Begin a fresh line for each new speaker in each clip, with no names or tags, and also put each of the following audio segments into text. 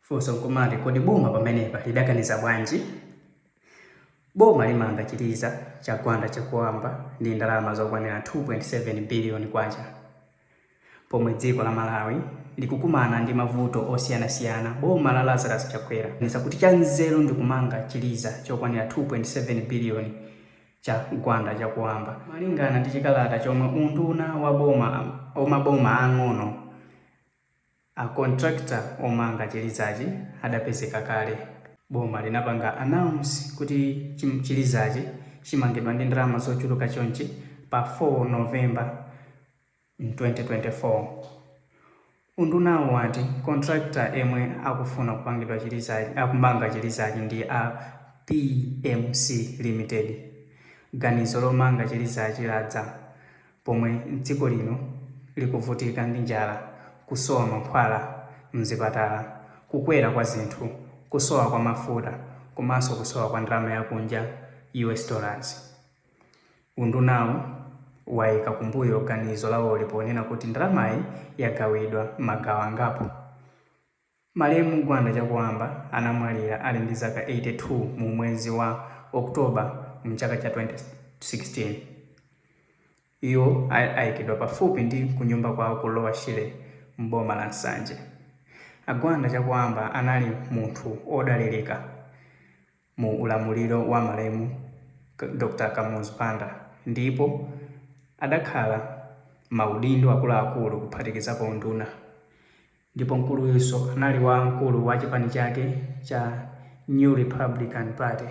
Funso nkumati kodi boma pamenepa lidaganiza bwanji? Boma limanga chiliza cha Gwanda Chakuamba ndi ndalama zokwanira K2.7 biliyoni. Pomwe dziko la Malawi likukumana ndi mavuto osiyanasiyana, boma la Lazarus Chakwera laganiza kuti chanzeru ndi kumanga chiliza chokwanira K2.7 biliyoni cha Gwanda Chakuamba. Malingana ndi chikalata chomwe unduna wa wa maboma aang'ono, A contractor omanga chilizachi adapezeka kale. Boma linapanga announce kuti chi chilizachi chimangidwa ndi ndalama zochuluka chonchi pa 4 November in 2024. Undunawu wati contractor yemwe akufuna kupangidwa chilizachi akumanga chilizachi ndi a BMC Limited. Ganizo lomanga chilizachi ladza Pomwe dziko lino likuvutika ndi njala, kusowa mankhwala m'zipatala, kukwera kwa zinthu, kusowa kwa mafuta komanso kusowa kwa ndalama ya kunja, US dollars, undunawu waikira kumbuyo ganizo lawoli ponena kuti ndalamayi yagawidwa m'magawo angapo Malemu Gwanda Chakuamba anamwalira ali ndi zaka 82 mu mwezi wa October mu chaka cha 2016. Iwo anaikidwa pafupi ndi kunyumba kwawo ku Lower Shire m'boma la Nsanje. A Gwanda Chakuamba anali munthu odalilika. mu ulamuliro wa malemu Dr Kamuzu Banda ndipo adakhala maudindo akuluakulu kuphatikizapo unduna ndipo mkuluyunso anali wamkulu wa chipani chake cha New Republican Party.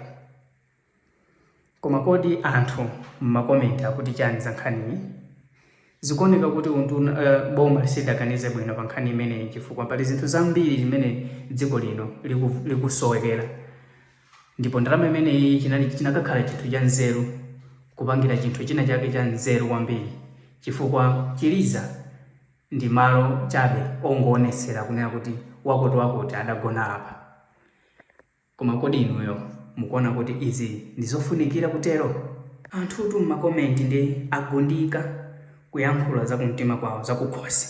Koma kodi anthu mma comment akuti chani za nkhaniyi? Zikuoneka kuti unduna, uh, boma silidaganize bwino pa nkhani imeneyi chifukwa pali zinthu zambiri zimene dziko lino liku, likusowekera ndipo ndalama imeneyi chinali chinakakhala chinthu cha nzeru kupangira chinthu china chake cha nzeru kwambiri chifukwa chiliza ndi malo chabe ongoonetsera kunena kuti wakuti wakuti adagona apa. Koma kodi inuyo mukuona kuti izi ndi zofunikira kutero? Anthutu m'makomenti nde agundika kuyankhula zakumtima kwawo zakukhosi.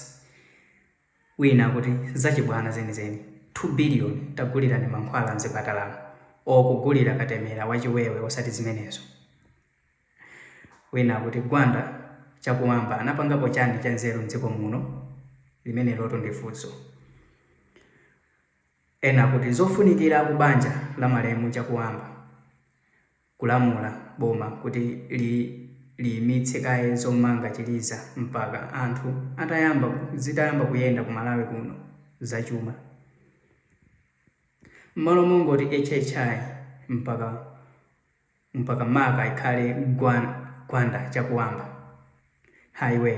Wina akuti zachibwana zenizeni, 2 billion tagulirani mankhwala m'zipatalamu or kugulira katemera wa chiwewe osati zimenezo. Wina akuti Gwanda Chakuamba anapangapo chani chanzeru m'dziko muno? Limenelotu ndi funso. Ena akuti zofunikira ku banja la malemu Chakuamba kulamula boma kuti li liyimitse kaye zomanga chiliza mpaka anthu atayamba zitayamba kuyenda ku Malawi kuno za chuma mmalo mongoti HHI mpaka mpaka maka ikhale Gwan Gwanda Chakuamba highway.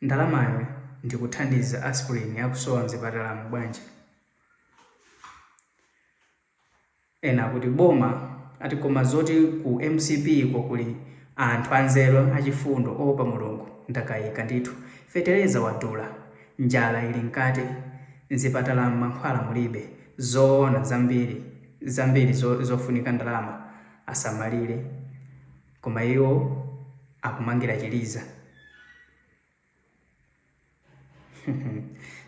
Ndalamayo ndikuthandiza aspirin akusowa mzipatalamu bwanji? Ena akuti boma ayi koma zoti ku mcp ko kuli anthu anzeru achifundo oopa Mulungu ndakaika ndithu. Fetereza wadula, njala ili mkati, mzipatalamu mankhwala mulibe, zoona zambiri zambiri zofunika ndalama asamalire. Koma iwo akumangira chiliza.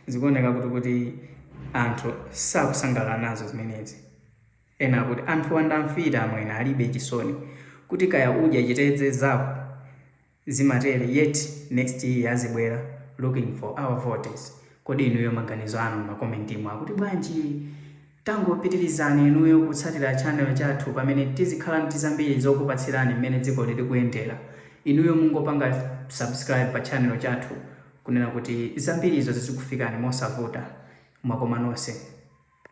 Zikuoneka kuti kuti anthu sakusangalala nazo zimenezi. Ena akuti anthuwa ndi amfiti amwene alibe chisoni. Kuti kaya udya chitedze zako zimatere yet next year azibwera looking for our votes. Kodi inuyo maganizo anu m'makomentimu akuti bwanji? Tangopitirizani inuyo kutsatira channel chathu pamene tizikhala ndi zambiri zokupatsirani mmene dzikoli likuyendera. Inuyo mungopanga subscribe pa channel chathu kunena kuti zambirizo zizikufikani mosavuta. Mwakoma nonse.